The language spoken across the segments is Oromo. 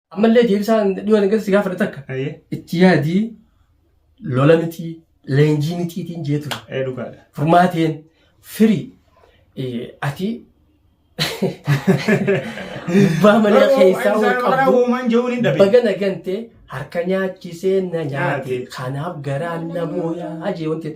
Ammallee deebisaa dhiyoon eeggatu si gaafadha takka. Ayyee. Itti yaadii lola miti leenjii mitiitiin jee ture. Ee dhugaadha. Furmaateen firii eh, ati gubbaa manaa keessaa ol qabdu Uumaan jehuun hin dhabe. baga na gante harka nyaachisee na nyaate kanaaf garaan na booyaa jee wanti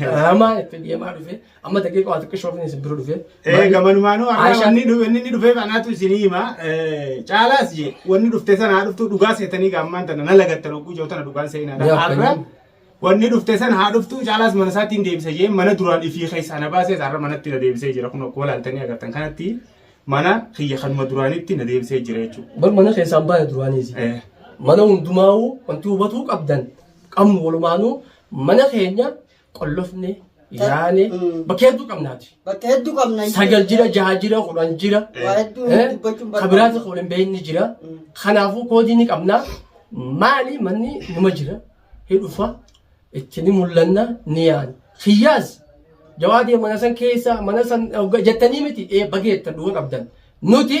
Dararamaa itti deemaa dhufe. Amma daqiiqa waa xiqqoo shoofni isin bira dhufe. Ee gamanumaanuu har'a Aisha- wanni dhufe inni dhufeef anaatu isinii hima. Eh, Caalaas je wanni dhufte sana haa dhuftu dhugaa seetanii gaammaan tana na lagattan hogguu jiru tana dhugaan seenaadha. Yaa Har'a fayyadu. wanni dhufte sana haa dhuftu caalaas mana isaatti hin deebisa jee mana duraan ifii keessaa na baasees har'a manatti na deebisee jira kun akkuma laaltanii agartan kanatti mana kiyya kanuma duraanitti na deebisee jira jechuudha. Bar mana keessaan baay'ee duraaniisi. Eh, Mana hundumaa'uu wanti hubatuu qabdan qabnu walumaanuu Mana keenya qollofne, Ta- yaane, Mm. bakka hedduu qabnaati. Bakka hedduu qabna. Sagal jira, jaha jira, kudhan jira. Waa hedduu Eh, dubbachuun Ka biraati barbaada. kuulin beekni jira. Mm. Kanaafuu koodii ni qabna. Maali manni numa jira. Hidhufa itti ni mul'anna ni yaana. Kiyyaas jawaadee mana san keessa mana san hogga- jettanii miti ee bageetta duwwa qabdan. Nuti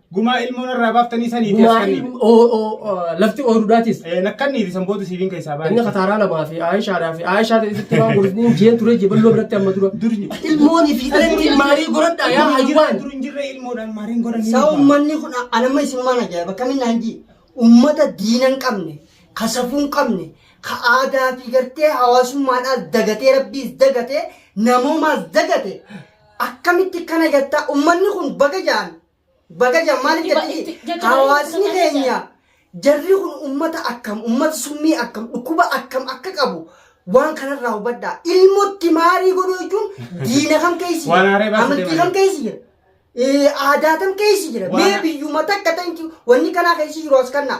Gumaa ilmoo narraa baaftanii sanii fi Gumaa askanni. ilmi- oo- oo- oo, lafti ooyiruudhaatis. Nakkanni fi sanbootu siifiin keessaa Inni baay'ee. kataaraa lamaa fi Aayishaadhaa fi Aayishaa ta'etti waan godhutni hin jeen ture jeballoo biratti amma dura. Durni. Ilmoonii fi dhalli maarii goradhaa yaa hayyuwaan. Dur hin jirre ilmoodhaan maariin godhan. Saa ummanni kun anamma isinumaan ajaa'iba kamiin naan jii ummata diina hin qabne ka safuu hin qabne ka aadaa fi gartee hawaasummaadhaas dagatee rabbiis dagatee namoomaas dagate Akkamitti kana jattaa ummanni kun baga jaan baga jaan maaliif Itti ba- jatti itti- jajjabee hawaasni itti baga keenya jarri kun ummata akkam ummata summii akkam dhukkuba akkam akka qabu waan kanarraa hubadhaa ilmotti maarii godhuu jechuun diina kam keessa Waan jira haaree baasuu amantii deeman. kam keessa jira Eh, aadaa kam keessa jira Waan- mee biyyuma takka ta'inti wanni kanaa keessa jiru as kannaa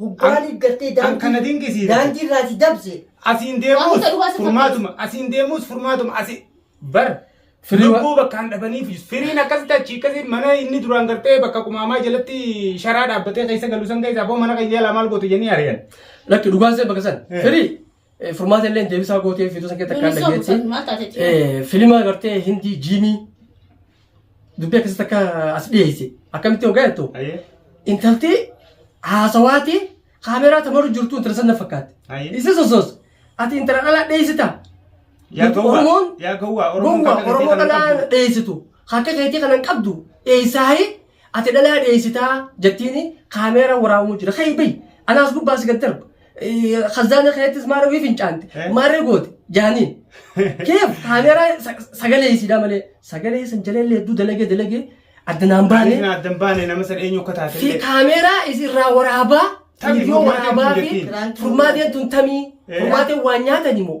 Hoggaa Kan- deeggartee kan kana daandii dinqisiifate. daandii irraa si dabse. Asiin Waan deemuus isa dhugaa si furmaatuma. Asiin deemuus furmaatuma. Asi bar. Firii wa- Lubbuu bakkaan dhabaniif firiin akkasitti achi akkasitti mana inni duraan gartee bakka qumaamaa jalatti sharaa dhaabbatee keessa galu san keessaa boo mana keenya jalaa maal goote jennee ari'an. Lakki dhugaan see bakka san. Eh. Firii. Furmaata illee deebisaa gootee fiiduu san keessatti akkaan dhageetti. Filima gartee hindii jiimii dubbii akkasitti akka as dhiyeesse akkamitti hoggaa jettu intalti haasawaati kaameeraa tamaruu jirtu intala sanna fakkaatti. Isa sosoos ati intala dhalaa dhiyeessita. Oromoon gowwaa Oromoo dhalaa dhiyeessitu akka keetii kanan qabdu dhiyeessaayi Ati dhalaa dheessitaa jettiini kaameeraa waraabamuu jira. Ka'i bahi. Anaas gubbaa si gad darba. Khazaana keettis maara wii fincaante. Maarree goote. Jaaniin. Keef kaameeraa sa- sagalee isiidhaa malee. Sagalee isan jaleellee hedduu dalagee dalagee adda naan baane. Baanee adda hin baane nama san eenyu akka Fi taatellee. kaameeraa isirraa waraabaa. Tamii, Viidiyoo furmaateen waraabaa tun fi jettiin. furmaateen tun tamii. Eh. Furmaateen waan nyaatani moo?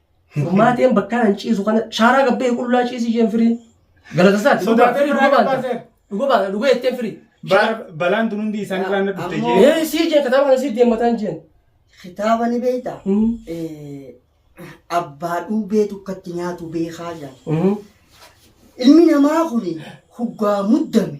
Gurmaateen bakka nan ciisu kana shaaraa gabbee qullaa ciisi isheen firii. Galatasaati. Sodaa firii dhuga baanta. Dhuga baanta. Dhuga jetteen firii. Balaan tun hundi isaan irraa na dhufte jee. Ee sii jee kitaaba kana sii deemmataan jeen. Kitaaba ni beektaa? Abbaa dhuubee tukkatti nyaatu beekaa jaa. Ilmi namaa kun hoggaa muddame.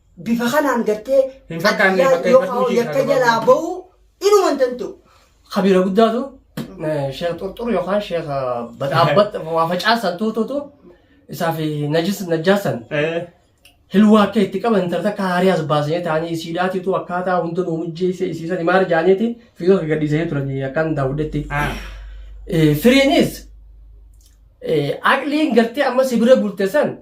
bifa kanaan gartee Hin fakkaanne adiyyaa bakka yoo ifatti kaa'u hojii yakka kana jalaa barbaadu. ba'uu inuma hin danda'u. Kabiira guddaatu eh, sheekh xurxur yookaan sheekh badhaabbat waa facaasan tuutuutu isaa fi najis najjaasan Eh, hilwaa akka itti qaban intala takka haarii as baasanii ta'anii siidhaatiitu akkaataa hunda nuu mijjeesse isiisan himaar jaaniiti fiidoo akka gadhiisanii turanii akkaan daawwadhetti. ah, Eh, Firiinis eh, aqliin gartee amma si bira bulte san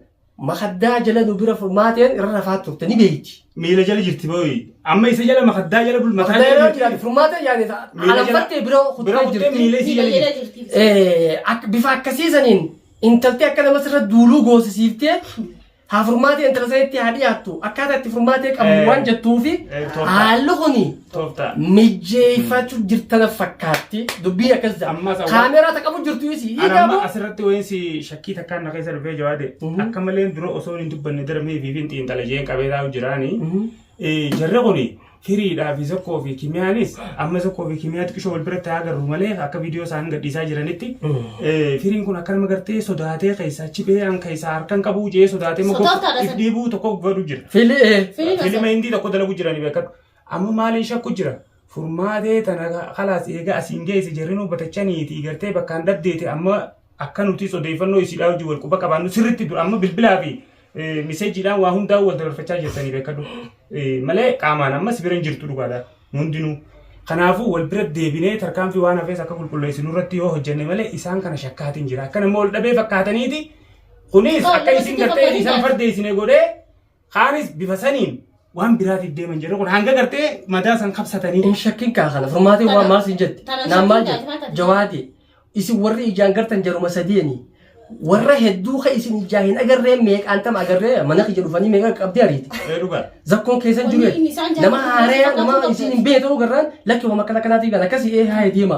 Makaddaa jala nu bira furmaateen irra rafaa turte ni beeyti. Miila jala jirti booyi. Amma isa jala makaddaa jala bul mataa Makaddaa jala jala jirti. furmaata yaani Miila jala- alambattee bira bira kuttee kuttee jirti. miila isii jala Miidhagina jirti. jirti. Eh, ak- bifa akkasii saniin intaltee akka nama sirra duuluu goosisiiftee haa furmaatee intala sanitti haa dhiyaattu akkaataa itti furmaatee qabu Eh. waan jettuufi Eh, torba. haalli kuni tooftaa mijeeffachuu jirtana fakkaatti. Dubbiin akkas jedha. Ammas awwa- Kaameeraa ta qabu jirtu isi. Ani Hiikaa amma moo? asirratti wayiinsi shakkii takkaan na keessa dhufee jawaade Mhm. akka maleen dura osoo hin dubbanne dara mee fi fin xiinxala jeen qabee taa'u jiraani. Mhm. Eh, Jarri kun firiidhaa fi zokkoo fi kimiyaanis amma zokkoo fi kimiyaa xiqqishoo wal biratti haa agarru malee akka viidiyoo isaan gadhiisaa jiranitti Mhm. eh, firiin kun akka nama gartee sodaatee keessaa chibee an keessaa harkan qabuu jee sodaatee Sodaataadha san. dhibuu tokko godhu jira. Fili ee. Firiin Filima hindii tokko dalagu jirani beekadhu. Amma maaliin shakku jira? Furmaatee tana kalaas eega asiin geesse jarrinuu batachaniiti gartee bakkaan dhabdeeti amma akka nutis odeeffannoo isiidhaa wajjin wal quba qabaannu sirritti dura amma bilbilaa fi miseejiidhaan waa hundaa'uu wal dabarfachaa jirtanii beekadhu malee qaamaan amma si bira hin jirtu dhugaadha nu hundinuu. Kanaafuu wal bira deebinee tarkaanfii waan hafees akka qulqulleessinu irratti yoo hojjenne malee isaan kana shakkaatiin jira akka nama wal dhabee fakkaataniiti kunis akka isin gartee isaan fardeessine godhee Kaanis bifa saniin waan biraatiif deeman jedhu kun hanga gartee madaa san kabsatanii. Hin shakkin kaa kana furmaatee waan maal siin jette. Tana Naan maal shakkin jette. taate. Jawaadee. Isin warri ijaan gartan jaruma sadeeni. Warra hedduu ka isin ijaa hin agarree meeqaan tam agarree mana kiyya dhufanii meeqa qabdee ariiti. Ee dhugaa. Zakkoon keessan Wanni jiru inni isaan nama jaalatu haareya nama fakkaatu isin hin beekne ta'uu garraan lakki waan akkana akkanaatiif kan akkasii ee haaya deema.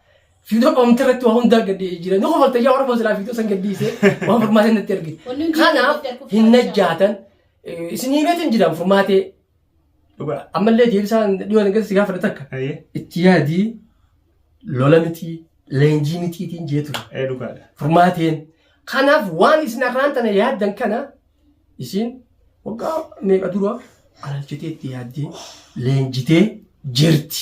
Fiidoo dhoomte irratti waa hundaa gadi jira. Ni kofalta yaa Oromoo silaa fiidoo san gadi dhiisee waan furmaatee natti argite. Wanni hundi Kanaaf irratti arkuuf hin taasisaa. najjaatan eh, isin himeetu hin jiraan furmaatee. Dhugaa ammallee deebisaan dhiyoo nagas si gaafadha takka. Ayyee. Itti yaadii lola mitii leenjii mitiitiin jeetu Ee dhugaadha. furmaateen. Kanaaf waan isin arraan tana yaaddan kana isin waggaa meeqa dura alaalchitee itti yaaddee leenjitee jirti.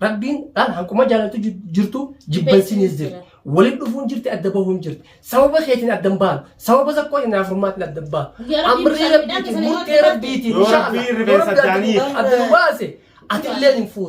Rabbiin dhaan hanquma jaalaltu ji- jirtu jibbansinis jirti. Waliin dhufuun jirti adda bahuun jirti. Sababa keetiin adda hin baanu. Sababa tokkoo inni afurmaatiin adda hin baanu. Guyyaa Rabbiin Amrii bishaan midhaan rabbiitiin keessanii murtee yoo rabbiitiin Yoo inshaalla. Rabbiin rifeensa Yoo Rabbi adda nu- jaaniif. adda nu baase ati illee hin fuutu.